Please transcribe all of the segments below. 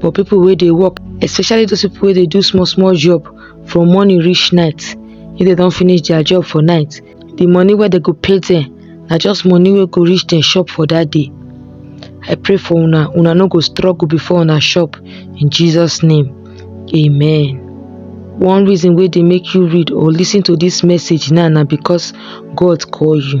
for people wey dey work especially those people wey dey do small small job from morning reach night if they don finish their job for night the money wey they go pay them na just money wey go reach them shop for that day i pray for una una no go struggle before una shop in jesus name amen one reason wey dey make you read or listen to this message now na because god call you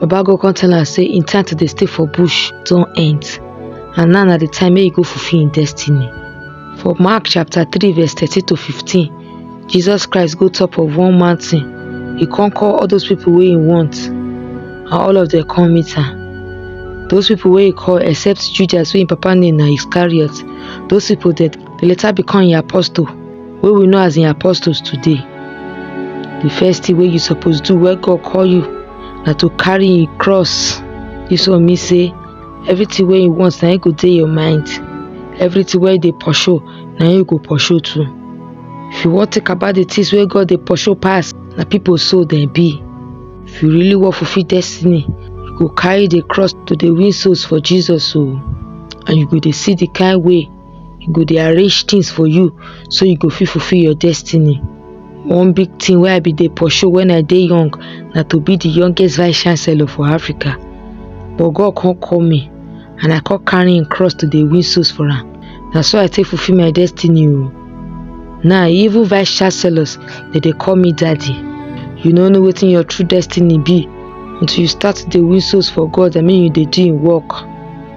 Baba God come tell am say im time to dey stay for bush don end and now na the time make e go fulfill im destiny. For Mark chapter 3 verse 13 to 15, Jesus Christ go top of one mountain. He come call all those people wey he want and all of them come meet am. Those people wey he call except Judas wey im papa name na Iscariot, those people dem dey later become im apostle. wey we know as im apostles today di first thing wey you suppose do wey god call you na to carry im cross dis one mean say everything wey you want na im go dey your mind everything wey you dey pursue na im you go pursue too if you wan think about the things wey god dey pursue pass na people soul dem be if you really wan fulfil destiny you go carry the cross to dey win souls for jesus o and you go dey see the kind way he go dey arrange things for you so you go fit fulfill your destiny. One big thing wey I be dey pursue when I dey young na to be the youngest vice chancellor for Africa. But God come call me and I come carry him cross to dey win souls for am. Na so I take fulfill my destiny o. Now even vice chancellors dey dey call me daddy. You no know wetin your true destiny be until you start to dey win souls for God I mean you dey do him work.